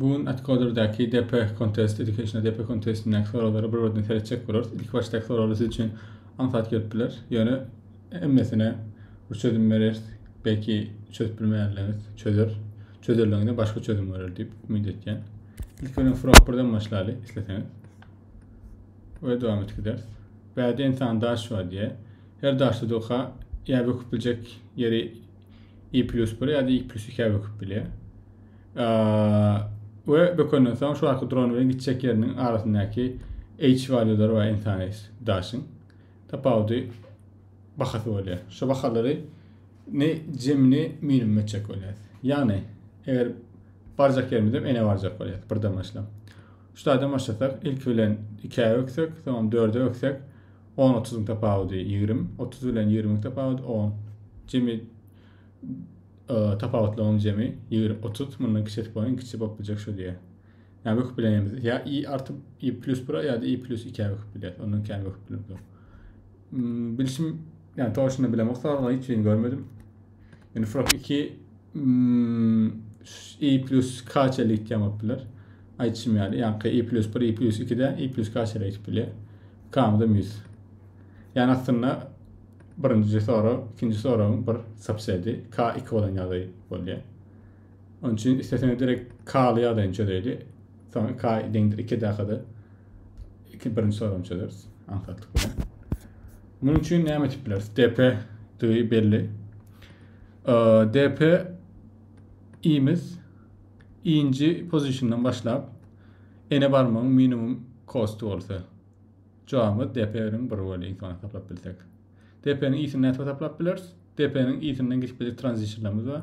Bu gün Atcoder-däki DP Contest Education-a DP Contest-indäki soraglara bir-birden seretjek bolarys. Ilki başdaky soraglar siz üçin aňsat gelip biler. Ýöne hemmesine bir çözüm bereris. Belki çözüp bilmeýänleriňiz çözer. Çözerligiňizde başga çözüm görer diýip umyt etýän. Ilki bilen Frog birden başlaly isleseňiz. Öýe dowam etip gideris. Bäde ensan daş bar diýýär. Her daşda doka ýa böküp biljek ýeri i plus bir ýa-da i plus ikä böküp bilýär. We bökenden soň şu arka duran bilen gitjek ýeriniň arasyndaky h valýulary bar insany daşyň. Tapawudy bahasy bolýar. Şu bahalary ne jemini minimum etjek bolýar. Ýagny, eger barjak ýerimizem ene barjak bolýar birden başlap. Şu taýdan başlasak, ilki bilen ikä öksek, soň dörde öksek, On otuzyň tapawudy ýigrim. Otuz bilen ýigrimiň tapawudy on. Jemi tapawutlaryň jemi ýigrim otuz. Mundan kiçesi bolan iň kiçisi bolup biljek şu diýýär. Ýa böküp bilenimiz ýa i artyp i plus bira ýa-da i plus ikä böküp biler. Ondan kän böküp bilemizok. Bilşim, ýa toşyny bilemok, soraglaryň hiç birini görmedim. Yani Frog 2 mm, i plus kaç ele gitýän bolup biler. Aýtşym ýaly, ýaňky i plus 1, i plus 2-de i plus kaç ele gidip bilýär. Kamda 100. Yani aslynda birinji sorag, ikinji soragyň bir subsedi k2 bolan ýagdaý bolýar. Onuň üçin isleseňiz direkt k-ly ýagdaýyny çözeýli. Soň k deňdir 2 dakada iki birinji soragyny çözeris aňsatlyk bilen. Munuň üçin näme etip bileris? DP digi belli. DP imiz inji pozisyondan başlap ene barmagyň minimum kostu bolsa jogabymyz DP bilen 1 böli iň soň hesaplap bilsek. DP-niň isini nädip hesaplap bileris? DP-niň isinden geçip biljek tranzistorlarymyz bar.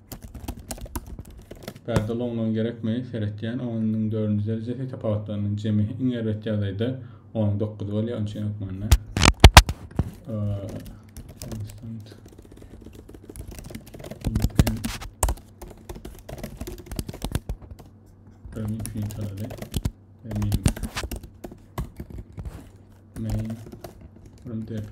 Pärde loňlugyny gerekmi? Seretýän onyň dördünji derejesi tapawutlarynyň jemi iň erbet ýagdaýda on dokuz bolýar, onuň üçin hökmanda konstant infinitary minimum main from dp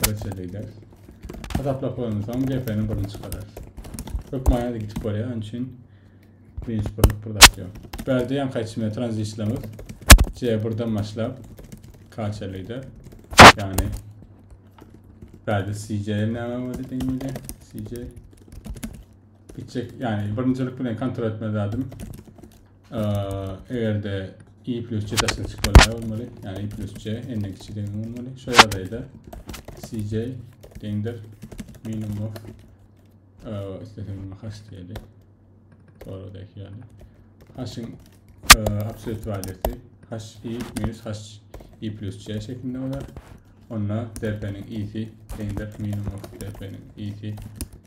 Birinçiden beýläs. Hasaplap bolandan soň GP-ni birini çykararys. Köp maýa gitip bolýar, onuň üçin birinji birlik bir zat ýok. Bärde ýaňky aýtşyma tranzistorymyz C1-den başlap KC-lide, ýagny bärde CJ näme boldy diýen ýeri, CJ gitjek, ýagny birinjilik bilen kontrol etmeli zadymy Eger-de i plus c daşyna çykmaly näme bolmaly? Yani i plus c n-den kiçi deňiň bolmaly. Şu ýagdaýda cj deňdir minimum of isteseň muňa hash diýeli. Soragdaky ýaly. Hashiň absolut walyýasy hash i minus hash i plus c şeklinde bolar. Onda dp-niň i-si deňdir minimum of dp-niň i-si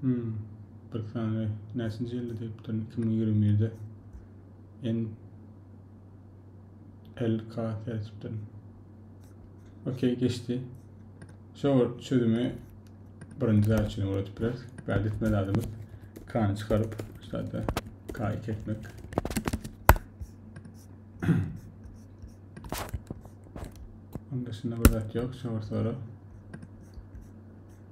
Hmm. Bir sany näçinji ýylda diýipdirin? 2021-de. En LK seçipdim. Okey geçdi. Şu çözümi birinci zat üçin öwretip bileris. Bäde etme zadymyz k-ni çykaryp, şu zada k-i kesmek. Onda şunda bir zat ýok, şu soru.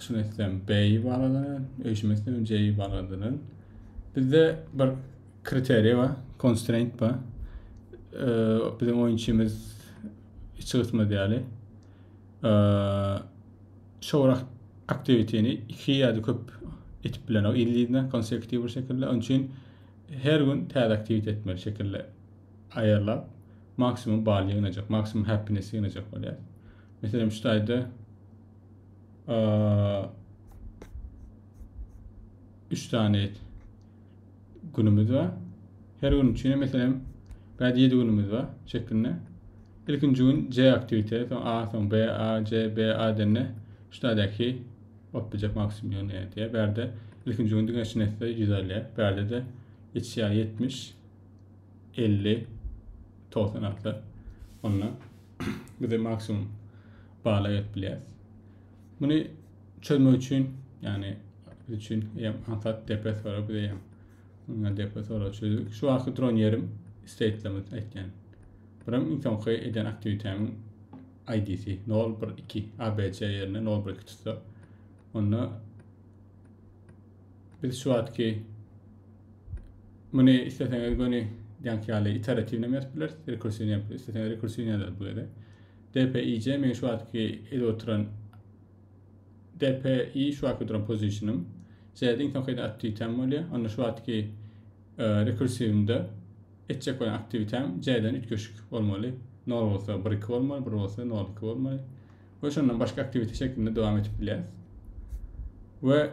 şuny etsem beý baradanan öýşüme etsem jeý baradanan bizde bir kriteriýa bar konstraint bar biziň oýunçymyz içi gysma diýeli şowra aktiwitini iki ýa-da köp etip bilen o illidna konsekutiw bir şekilde onuň üçin her gün täze aktiwit etmeli şekilde aýarlap maksimum bal ýygnajak maksimum happiness ýygnajak bolýar Meselem şu taýda üç sany günümüz bar. Her gün üçin meselem bädi 7 günümüz bar şeklinde. İlkinji gün C aktivite, soň A, soň B, A, C, B, A denne şu taýdaky bolup biljek maksimum ýöne diýe. Bärde ilkinji gün diňe şinesse 100 alýar. Bärde de içýär 70, 50, 90 atlar. Onda bize maksimum bala gelip bilýär. Muny çözmek üçin, ýagny biz üçin hem hansat depes bar, biz hem muňa depes bar çözüp. Şu wagtky duran ýerim state'limiz aýtýan. Buram iň soňky eden aktiwitemiň ID-si 012 ABC ýerine 012 tutsa, onda Biz şu wagtky muny isleseňiz göni ýaňky ýaly iteratiwny hem ýazyp bileris, rekursiwny hem, isleseňiz rekursiwny ýazarys bu gezek. DPIJ meň şu wagtky edip oturan DPI şu wagtky duran pozisýonym. J-de iň soňky aktiwitem bolýar. Onda şu wagtky e, rekursiwimde etjek bolan aktiwitem J-den üýtgeşik bolmaly. 0 bolsa 1-2 bolmaly, 1 bolsa 0-2 bolmaly. we şondan başga aktivite şeklinde dowam edip bilýäris. We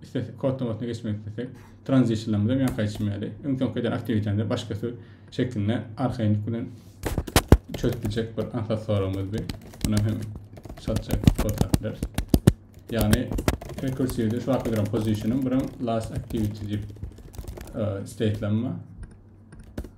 istesek kod namasyna geçmek istesek, transitionlarymyzy hem ýanka geçmeli. Öň soňky eden aktivitemizde başgasy şeklinde arkaýynlyk bilen çözüp biljek bir ansat soragymyz bir. Buna hem şatça kod tapdylar. Yani rekursiýada şu wagtda duran pozisiýanym bilen last activity diýip e, statelenme.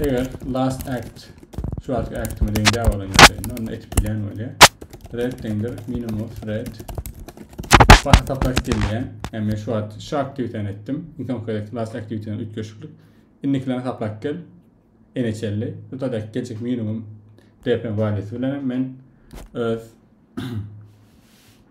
Eger last act şu wagtky actime deň däl bolan ýagdaýynda onda etip bilýän bolýar. Red deňdir minimum red Bak tapaş gelýän. Yani şu wagt şu aktiwiteni etdim. Insan kredit last aktiviteden üýtgeşiklik. Indikilerini taplap gel. Ene çelli. Bu da gelecek minimum DP valisi bilen men öz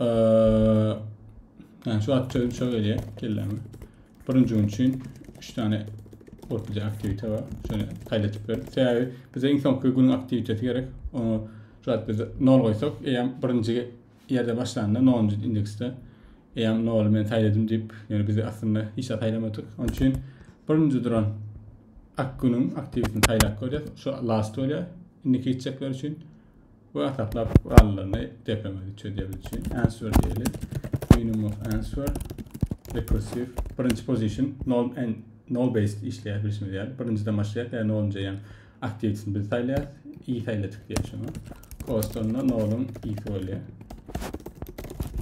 Eee, şu wagt çözüm şo gelýär kelläme. Birinji gün üçin 3 tane ortada aktivite bar. Şöyle kaydetik bir. Sebebi bize iň soňky günüň aktivitesi gerek. Onu şu wagt biz 0 goýsak, eýäm birinji ýerde başlanda 0-njy indeksde eýäm 0-y men saýladym diýip, ýöne biz aslynda hiç zat saýlamadyk. Onun üçin birinji duran ak günüň aktivitesini saýlap görýäs. Şu last bolýar. Indiki gitjekler üçin. Bu ataklap gurallaryny depeňizi üç edýär üçin answer diýeli. Minimum of answer recursive birinji position nol and nol based işleýär bilşimiz ýaly. Birinjiden başlaýar ýa nolunja ýan aktiwitini biz saýlaýas. I saýladyk diýär şoňa. Cost onda noluň isi bolýar.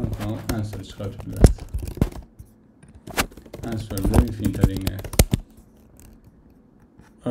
Onsoň answer çykaryp bileris. Answer bilen infinite diňe. Ee,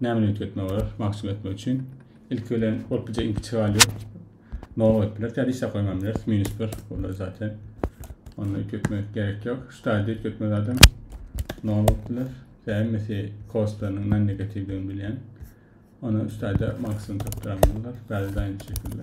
Näme niyet etmek gerek mahsum etmek üçin? İlki bilen bolup bize inki çygalýo. Nol goýup bileris ýa-da işe goýman bileris. Minus bir. Bular zaten. Onda ütgetmek gerek yok. Şu taýda ütgetme zaten nol bolup biler. Ýa hemmesi kostlarynyň non negatiwdigini bilýän. Onu şu taýda maksimum tapdyramyzlar. Bäri daýyn şekilde.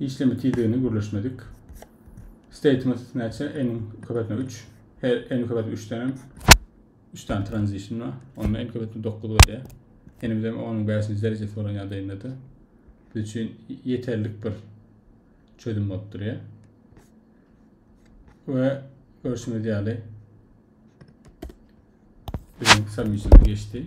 işleme tizligini gürleşmedik. Statement näçe? N köpetme 3. Her N köpetme 3 tane 3 tane transition var. Onda N köpetme 9 bolýar. N-imiz hem 10-yň 5-nji derejesi bolan ýagdaýynda-da biz üçin ýeterlik bir çözüm bolup durýar. We görüşimiz ýaly biziň submissionymyz geçdi.